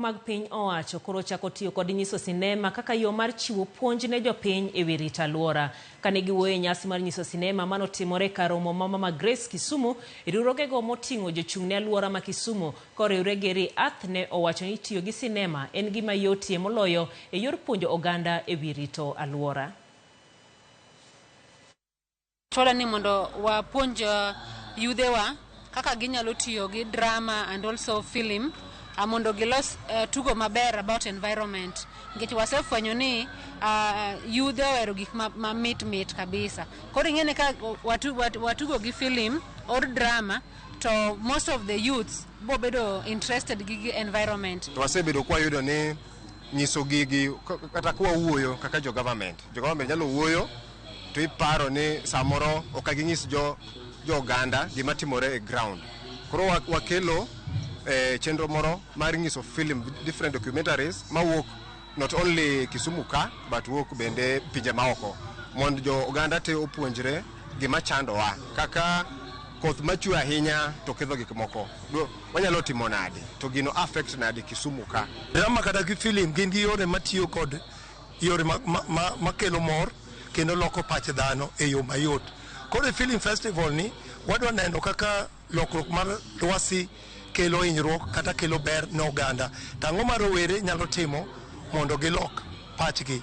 mag piny owacho koro ochako tiyo kod nyiso sinema kaka yo mar chiwo puonj ne jopiny e wi rito alwora. Kane giwuoyo e nyasi mar nyiso sinema mane otimore e kar romo ma Mama Grace Kisumu, riwruogego moting'o jochung' ne alwora ma Kisumu koriwre gi Re-Earth ne owacho ni tiyo gi sinema en gima yotie moloyo e yor puonjo oganda e wi rito alwora. Chwala ni mondo wapuonj uh, yudhewa kaka ginyalo tiyo gi drama and also film uh, mondo gilos uh, tugo maber about environment nikech wasefwenyo ni uh, yudhe ohero gik ma, ma mit mit kabisa koro ing'eni ka watu, watu, watugo gi film or drama to most of the youths bo bedo interested gi gi environment to wasebedo kwayudo ni nyiso gigi kata kwawuoyo kaka jo government jo government nyalo wuoyo to iparo ni samoro ok aginyis jo jo oganda gima timore e ground koro wa- wakelo eh, chenro moro mar nyiso film different documentaries mawuok not only kisumu ka but wuok bende pinje maoko mondo jo oganda te opuonjre gima chandowa kaka koth machwe ahinya to ketho gik moko Do- wanyalo timo nade to gino affect nade kisumu ka drama kata gi film gin gi yore matiyo kod yore ma, ma, ma, ma kelo mor kendo loko pach dhano e yo mayot koro e film festival ni wadwa neno kaka lokruok mar lwasi kelo hinyruok kata kelo ber ne oganda to ang'o ma rowere nyalo timo mondo gilok pachgi